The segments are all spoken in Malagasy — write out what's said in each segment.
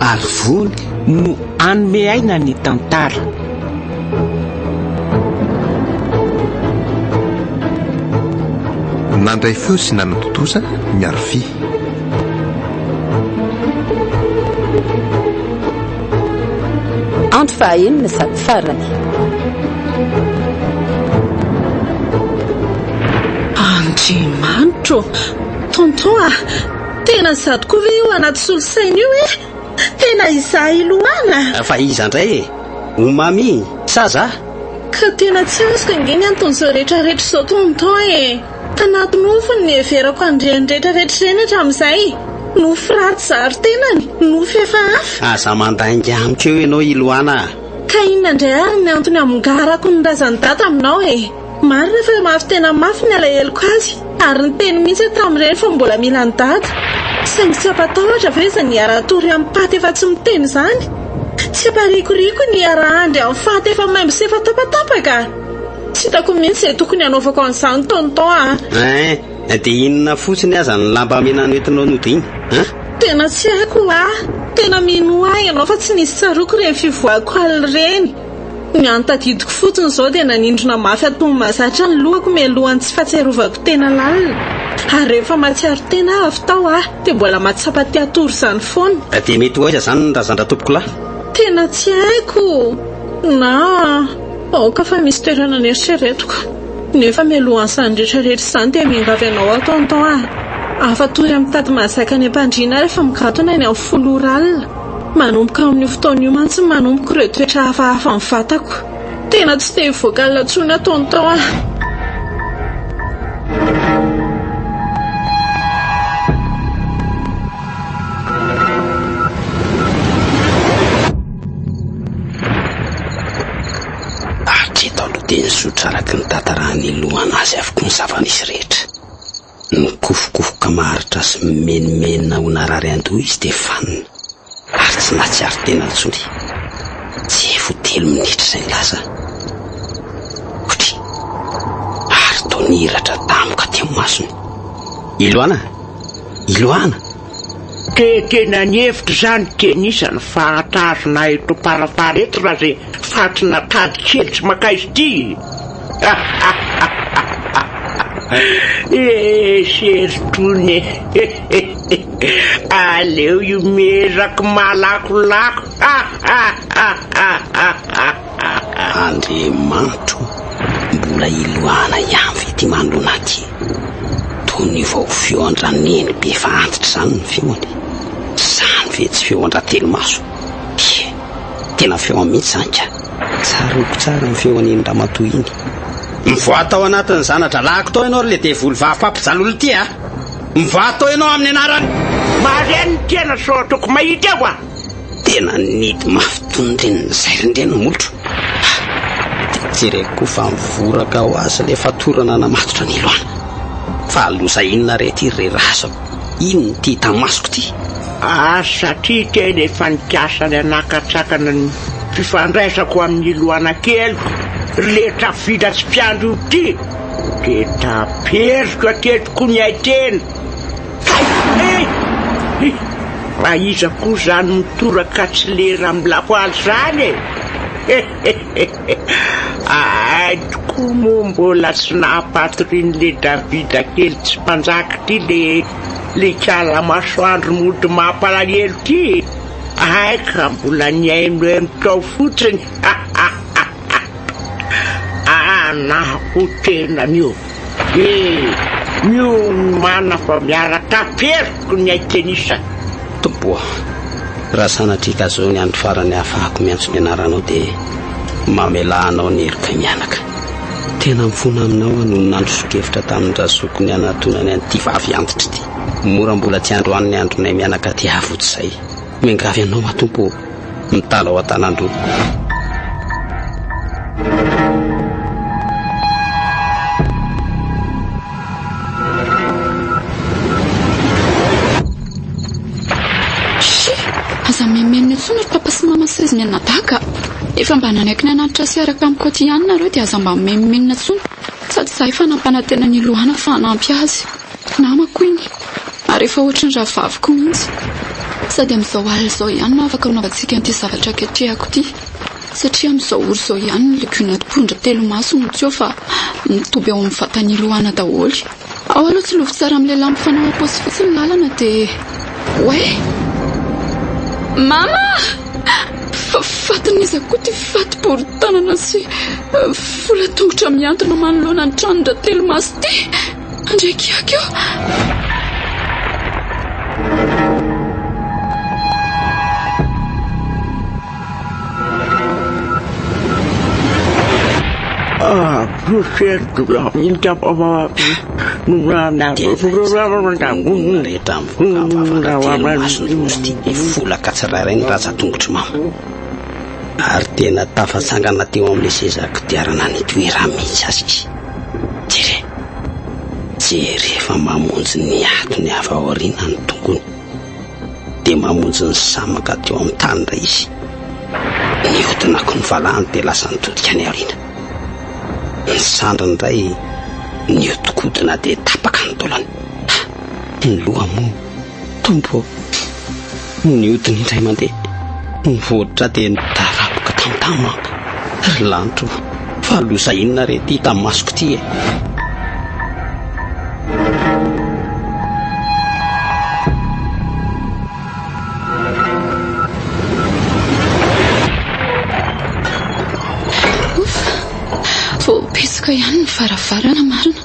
Ary vony no hanome aina ny tantara. Nandray feo sy nanatontosa ny arofia. Andro fahaenina sady farany. Andriamanitro ô! Tonton a! Tena izaho tokoa ve io anaty solosaina io e? Tena izaho i Lohana? Fa iza indray e? O Mamy sa zah? Ka tena tsy azoko ange ny anton'izao rehetra rehetra izao Tonton e! Tanaty nofy no niheverako an'ireny rehetra rehetra ireny hatramin'izay. Nofy ratsy zary tenany, nofy hafahafa. Aza mandainga amiko eo ianao i Lohana a! Ka inona indray ary ny antony hamongarako ny razan'i Dada aminao e? Marina fa mafy tena mafy ny alaheloko azy ary niteny mihitsy aho tamin'ireny fa mbola mila an'i Dada. Saingy tsy hampatahotra ve izany hiara-hatory amin'i Paty efa tsy miteny izany? Tsy hamparikoriko ny hiara-handry amin'i Faty efa maimbo sy efa tapatapaka? Tsy hitako mihitsy izay tokony hanaovako an'izany Tonton a! Hein! Dia inona fotsiny aza ny lambamena nentinao nody iny an? Tena tsy haiko ho'a! Tena minoa ahy ianao fa tsy nisy tsaroako ireny fivoahako alina ireny. Ny an'ny tadidiko fotsiny izao dia nanindrona mafy antonony mahazatra ny lohako mialohan'ny tsy fahatsiarovako tena lalina. Ary rehefa mahatsiaro tena aho avy tao aho dia mbola mahatsapa te hatory izany foana. Ka dia mety ho aiza izany ny razan-dRatompokolahy? Tena tsy haiko na aoka fa misy toerana neritreretiko. Nefa mialohan'izany rehetra rehetra izany dia miangavy anao Antonton a! Afa-tory amin'ny tady mahazaka any am-pandriana aho rehefa mikatona eny amin'ny folo ora alina. Manomboka amin'io fotoana io mantsy no nanomboka ireo toetra hafahafa ny vatako. Tena tsy te hivoaka ny latsony ataony tao aho. Hatreto aloha dia nizotra araka ny tantaran'ny lohana azy avokoa ny zava-misy rehetra. Nikofokofoka maharitra sy mimenomenona ho narary an-doha izy dia vanona ary tsy nahatsiaro tena intsony. Tsy ho telo minitra izay ny lasa, kotry! ary toa nihiratra damoka teo ny masony. Iloana! Iloana! Dia tena nihevitra izany Kenisa ny fahatrarana eto Farafara eto raha izay fatina tady kely tsy makaiza ity e! Esy ery tony e! Aleo io miezaky malakolako. Andriamanitro mbola hilohana ihany ve ty manoloana aty? Toy ny vao feon-dra neny be fa antitra zany ny feony. Zany ve tsy feon-dra telo maso? He! Tena feon mihitsy zany ka! Tsaroako tsara ny feon'iny ramatoa iny. Mivoaha tao anatin'ny zana-drahalahiko tao ianao ry le devoly vavy mpampijaly olona ty a! Mivoaha tao ianao amin'ny anarany! Mahare ny tena sao ataoko mahita aho a! Tena nidy mafy toy ny reniny izay ry Ndry Namolotra a! Dia jereko koa fa mivoraka ho azy ilay fatorana namatotra ny loana. Fa loza inona re ity ry razako? Inona ity hita masoko ity? Ary satria tena efa nikasa ny hanakatsakana ny fifandraisako amin'i Loana keliko ry Letra vita tsy mpiandry io ity, dia taperiko hatreto koa ny haiteny. Fa iza koa izany mitoraka tsy lera amin'ny lapoaly izany e? Ahay tokoa moa mbola tsy nampatorian'ilay Davida kely tsy mpanjaka ity ilay ikala masoandro mody mampalahelo ity e! Ahay ka mbola nihainohaino tao fotsiny. Anah ho tenany io. Dia miomana fa miaraka aferiko ny hay tennis. Tompo ô! Raha sanatria ka zao ny andro farany ahafahako miantso ny anaranao dia mamelà anao ny heriko himianaka. Tena mifona aminao aho nony nandrosokevitra tamin-drazoko ny hanatonany an'ity vavy antitra ity. Mora mbola tsy androany ny andronay mianaka tiavo tsy zay. Miangavy anao aho Tompo ô, mitala ao an-tanàn-droa. ny anadaka efa mba nanaiky ny anatitra sy araka amin'ny koty ihany nareo dia aza mba meminenina tsony sady za efa nampanantena ny lohana fa hanampy azy Namako iny, ary efa ohatry ny rahavaviko mihitsy. Sady amin'izao alina izao ihany no afaka anaovantsika an'ity zavatra aketrehako ity, satria amin'izao ora izao ihany ny legiona mpondra telo maso no tsy eo fa mitoby ao amin'ny vatan'i Loana daholo. Ao aloha tsy lovy tsara amin'ny lehilahy mifanao am-paosy fotsy ny lalana dia Oay! Mama! Fa fatin'iza koa ity fati-boron-tanana sy vola tongotra mihantona manoloana ny tranon-dRatelomaso ity? Andriy kiaka io! Mifolaka tsirairay ny rantsan-tongotry Mama ary tena tafatsangana teo amin'ilay seza kodiarana nitoerany mihitsy aza izy. Jere! Jere fa mamonjy ny atony avy ao aoriana ny tongony. Dia mamonjy ny samaka teo amin'ny tany indray izy. Nihodina koa ny valahany dia lasa nitodika any aoriana. Ny sandriny indray nihodinkodina dia tapaka ny tolony. Ha! Ny loha moa! Tompo ô! Niodina indray mandeha ny vohitra dia nidaraboka tamtam aho. Ry lanitra ô! Fa loza inona re ity hita masoko ity e! Voapesoka ihany ny varavarana marina.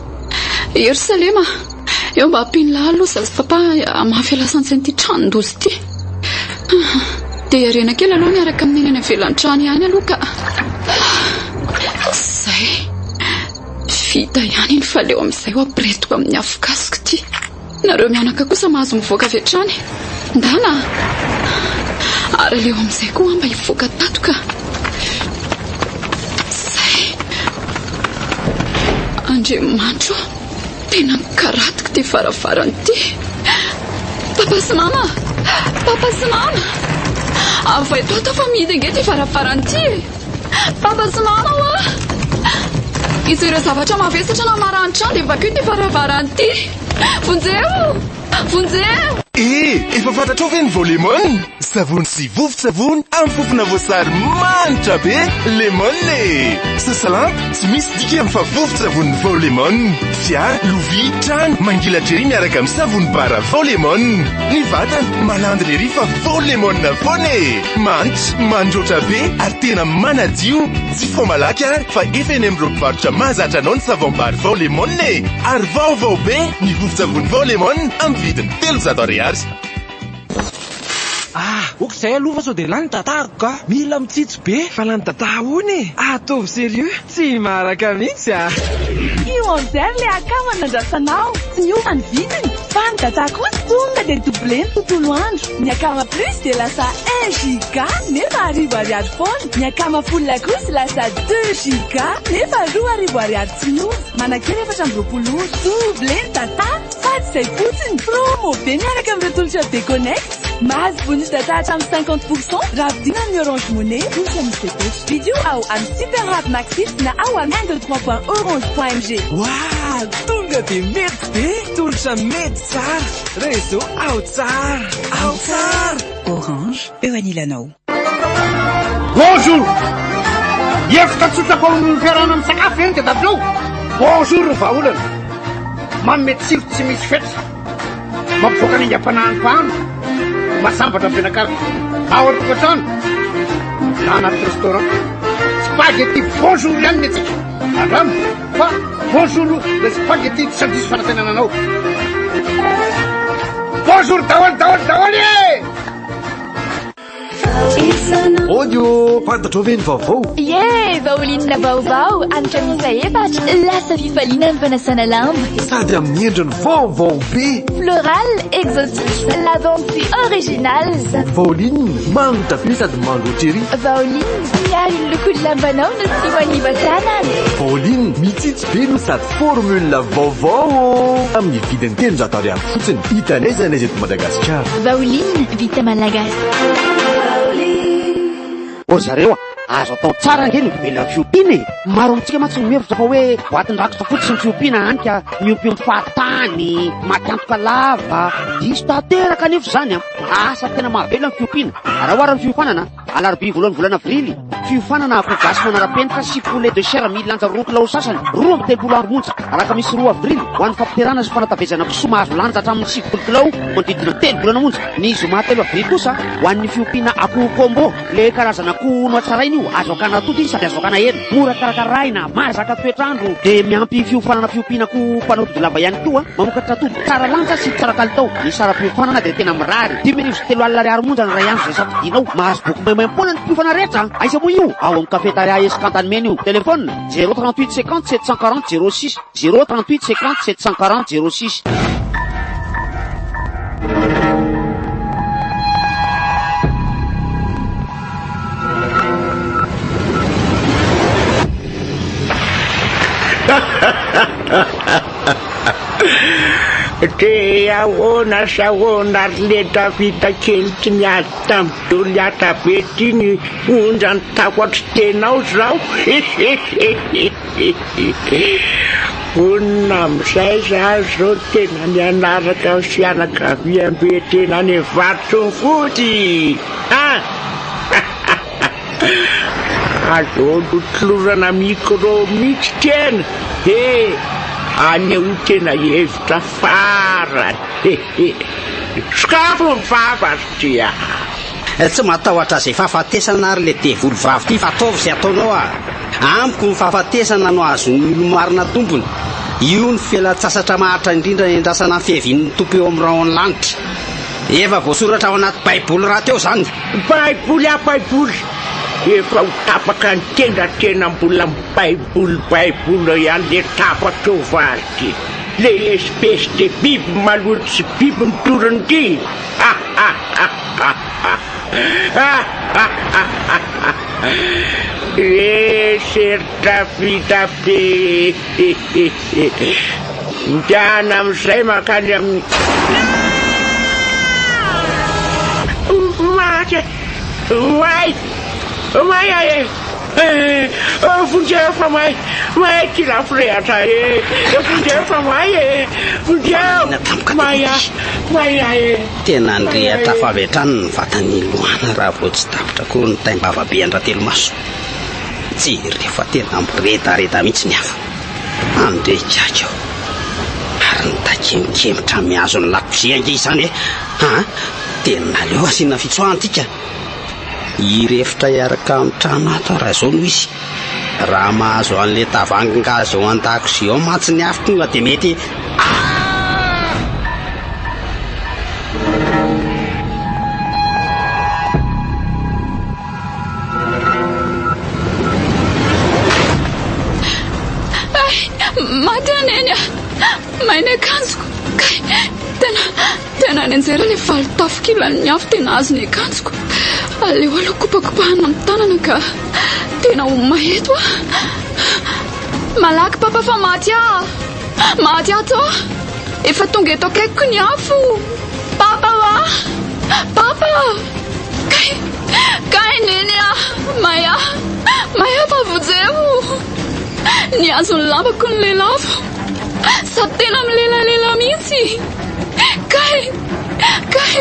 Ierosalema! Eo mba ampian'lah aloha zaza papa hamafy alasantsy an'ity tranon-doza ity. Dia iarena kely aloha miaraka amin'ny eny any avelan-trano ihany aloha ka. Izay. Tsy vita ihany iny fa leo amin'izay ho apiretiko amin'ny afokasiko ity. Nareo mianaka kosa mahazo mivoaka avy hatrany. Ndana. Ary leo amin'izay koa mba hivoaka tato ka. Izay. Andriamanitro. Tena mikaratiko ty varavarana ty. Papa sy mama a! Papa sy mama! Avo eto ato aho fa mihidy ange ty varavarana ty e! Papa sy mama o a! Hisy ireo zavatra mavesatra na maranitra any dia vakio ty varavarana ty. Vonjeo! Vonjeo! Eh! Efa fantatrao ve ny vao lemon? Savony sy vovon-tsavony amin'ny fofona voasary manitra be lemon e! Sasalampy, tsy misy dikany fa vovon-tsavony vao lemon. Fiara, lovia, trano, mangilatr'i ery miaraka amin'ny savony bara vao lemon. Ny vatana, malandina ery fa vao lemon foana e! Manitra, mandroatra be ary tena manadio. Tsy vao malaky ary fa efa eny amin'ireo mpivarotra mahazatra anao ny savom-bary vao lemon e! Ary vaovao be ny vovon-tsavony vao lemon amin'ny vidiny telonjato ariary. Ah! ok zay aloha fa sao dia lany datahako ka! Mila mitsitsy be fa lany dataha hono e! Ataovy serieux! Tsy himaraka mihitsy ah! Io Enzer le akama nandrasanao, tsy niova ny vidiny, fa ny data kosa tonga dia doublé ny tontolo andro, ny akama plus dia lasa un giga nefa arivo ariary foana. Ny akama folo lakozy lasa deux giga nefa roa arivo ariary tsy miova. Manakera efatra amby roapolo ora. Double data sady izay fotsiny. Promo be miaraka amin'ireo tolotra be connect. Mahazo bonus data hatramin'ny cinquante pour cent raha vidiana amin'ny Orange Money ohatra ny CPC. Vidio ao amin'ny Super Hub Maxit na ao amin'ny un deux trois point orange point mg. Wah! Tonga dia mety be! Tolotra mety tsara! Réseau ao tsara! Ao tsara! Orange, eo anilanao. Bonjour! Hevitra tsotra fa ho noho ny fiarahana misakafo ve ny tedatrao? Bonjour ny vahaolana! Manome tsiro tsy misy fetra, mampivoaka ny aingam-panahin'ny mpahano, masambatra ny mpianakavy, na ao an-tokantrano, na anaty restaurant. Spaghetti bonjour ihany ny antsika, andramo fa bonjour le spaghetti tsy handiso fanantenana anao. Bonjour daholo daholo daholo e! Odio, fantatrao ve ny vaovao? Ye, vaolinina vaovao, anitra miisa efatra, lasa fifaliana ny fanasana lamba. Sady amin'ny endriny vaovao be. Floral, exotique, lavande original. Vaolinina, mango tapis sady mango cherry. Vaolinina, miaro ny lokon'ny lambanao no tsy maniva tanana. Vaolinina, mitsitsy be no sady formule vaovao. Amin'ny vidiny telonjato ariary. fotsiny hita n'aiza n'aiza eto Madagasikara. Vaoline vita malagasy. Ô zareo a! Azo atao tsara ange ny mivelona amin'ny fiompiana e! Maro amintsika mantsy no mihevitra fa hoe boatin-drakitra fotsiny ny fiompiana hany ka miompy amin'ny fahatany, maty antoka lava. Diso tanteraka anefa izany an! Asa tena mahavela ny fiompiana. Araho ary ny fiofanana. Alarobia voalohan'ny volana Aprily, fiofanana akoho gasy manara-penitra sy poulet de chair milanja roa kilao sasany, roa amby telopolo amby onja, alakamisy roa Avrily, ho an'ny fampiterahana sy fanatavezana kisoa mahazo lanja hatramin'ny sivifolo kilao, manodidina telo volana monja, ny zoma telo Avrily kosa, ho an'ny fiompiana akoho combo, ilay karazana akoho nohatsaraina io, azo hakana atody izy sady azo hakana hena, mora karakaraina, mahazaka toetr'andro, dia miampy fiofanana fiompiana akoho mpanao tody lava ihany koa, mamokatra atody tsara lanja sy tsara kalitao, ny saram-piofanana dia tena mirary, dimy arivo sy Telo alina ariary monja ny iray andro izay safidinao. Mahazo boky maimaim-poana ny mpiofana rehetra. Aiza moa io? Ao amin'ny Cafetaria Escanta ny mena io. Telefona, zéro trente huit cinquante sept cent quarante zéro six, zéro trente huit cinquante sept cent quarante zéro six. Dia ahoana sy ahoana ry le Davida kely tsy niady tamin'i Goliata be ity ny onjany tao an-tritenao izao? Vonona amin'izay za izao tena ny hanaraka ny fianakaviambe tena any Varotongody an! Aza olotolorana micro mitsy kena e! Aneho tena hevitra farany e! Sokafy ny vava ry Dia! Tsy matahotra izay fahafatesana ary le devoly vavy ty fa ataovy izay ataonao a! Amiko ny fahafatesana no azon'ny olomarina tompony! Io no fialantsasatra maharitra indrindra niandrasana ny fiavian'ny Tompo eo amin'ny rahon'ny lanitra! Efa voasoratra ao anaty baiboly rahateo izany! Baiboly ah baiboly, efa ho tapaka ny tenda tena mbola mibaiboly baiboly eo ihany le tapaka eo va ry ty le espèce de biby maloto sy biby mitory ny ty ee serta vita be ee. Midahana amin'izay mankany amin'ny Maty e! May! May aho e! Vonjeo fa may! May ity lafirehatra e! Vonjeo fa may e! Vonjeo! May aho! May aho e! Tena nirehitra avy hatrany ny vatan'i Loana raha vao tsy tapitra koa ny taim-bavabe an-dRatelomaso. Jereo fa tena miredareda mihitsy ny afo. Andeha higaika aho. Ary ny takemokemotra mihazo ny lakozia ange izany e. Ha, tena aleo asiana fitsoahantika. Hirefotra hiaraka amin'ny trano ato aho raha izao no izy. Raha mahazo an'ilay tavangy gazy ao an-dakozia ao mantsy ny afo tonga dia mety Maty aho neny a! May ny akanjoko. Kay, tena, tena any anjera ilay valo tafo kilan'ny afo tena azo ny akanjoko. Aleo aloha kopakopahana amin'ny tanana ka. Tena ho may eto a. Malaky papa fa maty aho. Maty ato. Efa tonga eto akaikiko ny afo! Papa a! Papa! Kay! Kay neny a! Maya! Maya vavojeo! Nihazo ny lambako ny lelafo! Sady tena milelalela mihitsy! Kay! Kay!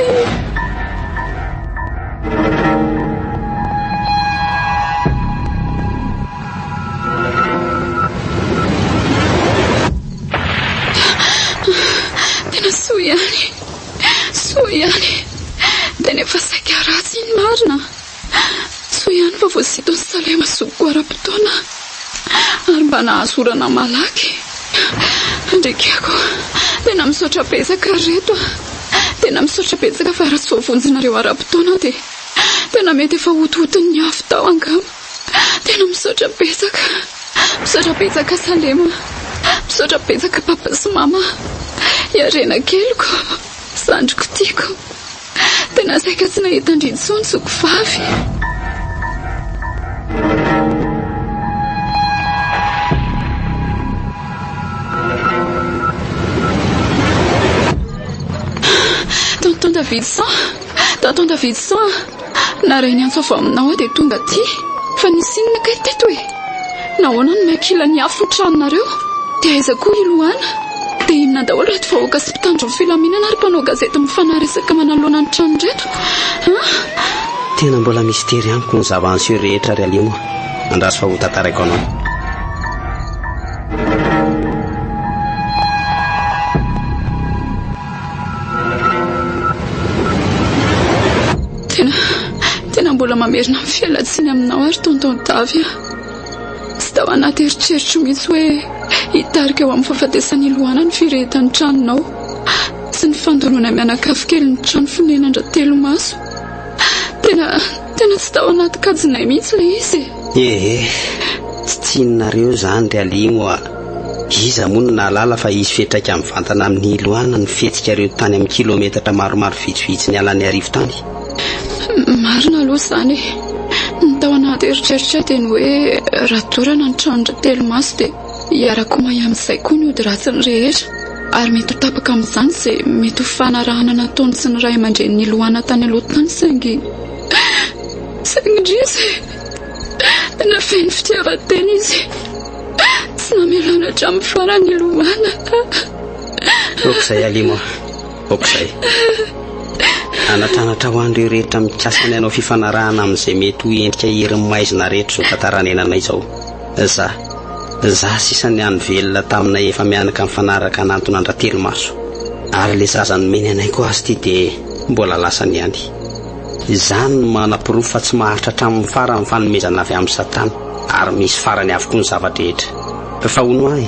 Tena soa ihany e! Soa ihany e! Tena efa saika ratsy iny marina. Soa ihany fa voasiton'i Salema zokiko ara-potoana ary mba nahazo orana malaky. Andriakeko, tena misaotra betsaka ry reto a! Tena misaotra betsaka fa raha tsy voavonjinareo ara-potoana dia tena mety efa hotohoton'ny afo tao angamba. Tena misaotra betsaka. Misaotra betsaka Salema. Misaotra betsaka Papa sy Mama. I Harena keliko, zandriko tiako. Tena saika tsy nahita an-dry intsony zoky vavy. Tonton Davidson, Tonton Davidson, Na raha niantso avy aminao aho dia tonga aty fa nisy inona kay teto e? Nahoana no miankila ny afo ny tranonareo? Dia aiza koa i Lohana? Dia inona daholo ireto vahoaka sy mpitandro ny filaminana ary mpanao gazety mifanahy resaka manoloana ny trano ireto an? Tena mbola mistery amiko ny zava niseho rehetra ry Alimo a! Andraso fa ho tantaraiko anao. Tena, tena mbola mamerina amin'ny fialantsiny aminao ary tonton Davy a. Tsy tao anaty eritreritro mihitsy hoe hitarika ho amin'ny fahafatesan'i Lohana ny firehetan'ny tranonao sy ny fandoroana mianakavy kelin'ny trano fonenandra telo maso. Tena, tena tsy tao anaty kajinay mihitsy ilay izy e. Ehe, tsy tsininareo zany ry aligno oa, iza moa no nahalala fa hisy fiatraika mivantana amin'ny hiloana ny fihetsikareo tany amin'ny kilometatra maromaro vitsivitsy nialaniarivo tany? Marina aloha izany e! Ny tao anaty eritreritrao dia ny hoe raha dorana ny tranon-dry Telomaso dia hiara-komay amin'izay koa ny ody ratsiny rehetra ary mety ho tapaka amin'izany izay mety ho fanarahana nataony sy ny ray aman-drenin'i Loana tany aloha tany saingy Saingy indrisy, na feno fitiavan-tena izy, tsy namelany hatramin'ny farany hilomana. Aok'izay, Alimo a! Aok'izay! Anatranatra ho an'ireo rehetra mikasa ny hanao fifanarahana amin'izay mety ho endrika herin'ny maizina rehetra izao tantara anenanay izao. Izaho, izaho sisa nihaino velona taminay efa mianaka nifanaraka hanantona an-dRatelimaso. Ary ilay zaza nomeny anay koa azy ity dia mbola lasany ihany. Izany no manaporofo fa tsy maharitra hatramin'ny farany ny fanomezana avy amin'i Satana, ary misy farany avokoa ny zava-drehetra. Fa hono ahy,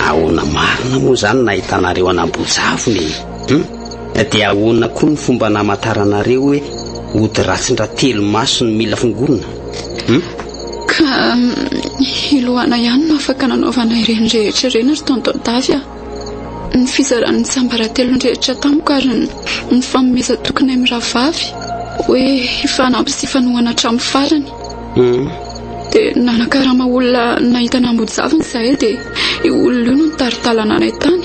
ahoana marina moa izany no nahitanareo an'Ambojavona e? Hum? Dia ahoana koa ny fomba namantaranareo hoe ody ratsin-dra telo maso no mila fongonina? Hum? Ka i Lohana ihany no afaka nanaovana ireny rehetra ireny ry Tonton Davy a! Ny fizaran'ny tsiambaratelony rehetra tamiko ary ny fanomezan-tokinay mirahavavy hoe hifanampy sy hifanohana hatramin'ny farany. Dia nanakarama olona nahita nambojaviny izahay dia io olona io no nitari-dalana anay tany.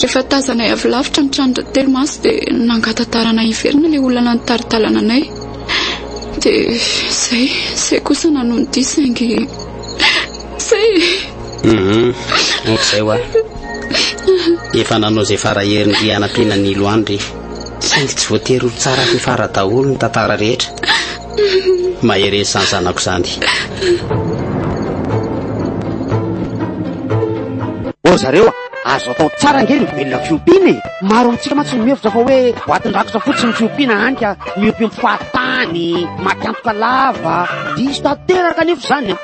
Rehefa tazanay avy lavitra ny tranon-dRatelo Maso dia nangatatarana hiverina ilay olona nitari-dalana anay. Dia izay, izay kosa nanohy ny dihy saingy. Zay e. Hum ohatr'izay hoa. Efa nanao izay fara heriny ry hanampiana ny ilo any ry. Saingy tsy voatery ho tsara sy fara daholo ny tantara rehetra. Mahereza izany zanako izany. Ô zareo a! Azo atao tsara ange ny mivelona amin'ny fiompiana e! Maro amintsika mantsy no mihevitra fa hoe boatin-drakitra fotsiny ny fiompiana hany ka miompiompy fahatany, maty antoka lava. Diso tanteraka anefa izany an!